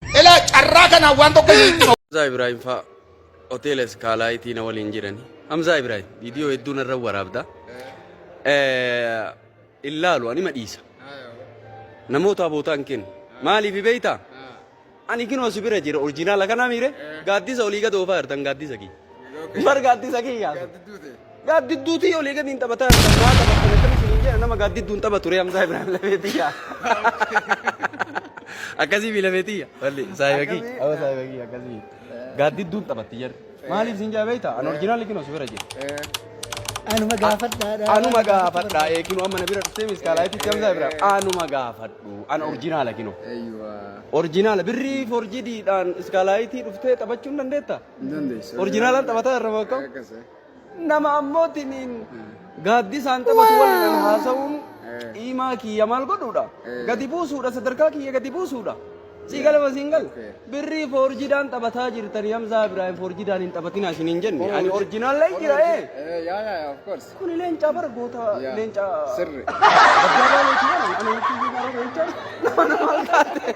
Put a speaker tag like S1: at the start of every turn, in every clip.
S1: Ela carraa kanaan waan tokko isin itti Hamzaa Ibrahim faa
S2: hoteela iskaalaayitii na waliin jirani. Hamzaa Ibrahim viidiyoo hedduun irra waraabda. Hin laalu anima dhiisa. Namoota abootaan kennu. Maaliif beektaa? Ani kinoo si bira jira orjinaala kana miire gaaddisa olii gad oofaa jirtan gaaddisa kiyya. Bar gaaddisa kiyyaa. Gaaddidduutii olii gadi hin taphataa hin taphataa taphattan akkam isin hin jedha nama gaaddiddu hin taphatu ree Hamzaa Ibrahim Lafeetiyya. Akkasii fi Lafeetiyya. Walli saahiba kiyya. Awa saahiba kiyya akkasii. Gaaddidduun taphatti jedhu. Maaliif isin jaa beektaa? An orjinaal liqinoo si bira jira. Anuma
S3: gaafadhaadha. Anuma gaafadhaa
S2: eekinoo amma na bira dhuftee miskaalaayititti Hamzaa Ibrahim. Anuma gaafadhu. An orjinaala kinoo. Orjinaala birrii forjidiidhaan iskaalaayitii dhuftee taphachuun dandeetta? Orjinaalaan
S3: taphataa irra
S2: bakka. Nama ammoo tiniin gaaddisaan taphatu waliin haasa'uun qiimaa kiyya maal godhuudha? Gadi buusuudha sadarkaa kiyya gadi buusuudha. Sii galama siin gal. Birrii foorjidaan taphataa jirtanii Hamzaa Ibraahim foorjidaan hin taphatinaa isin hin jenne. Ani orjinaal lay jira ee.
S3: Kuni leencaa bara goota
S2: leencaa. Sirri.
S3: Gabbaa
S2: leencaa. Ani hin jenne. Nama nama taate.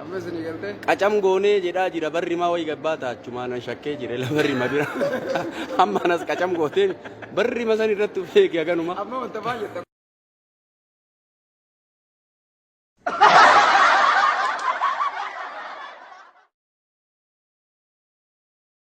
S3: Amma isin galte. Qacam goonee jedhaa
S2: jira barri maa wayii gabbaa taachumaa nan shakkee jira la barri ma bira. Amma anas qacam gootee barri ma san
S3: irratti
S2: feegi haganuma. Amma
S3: wanta
S2: baay'ee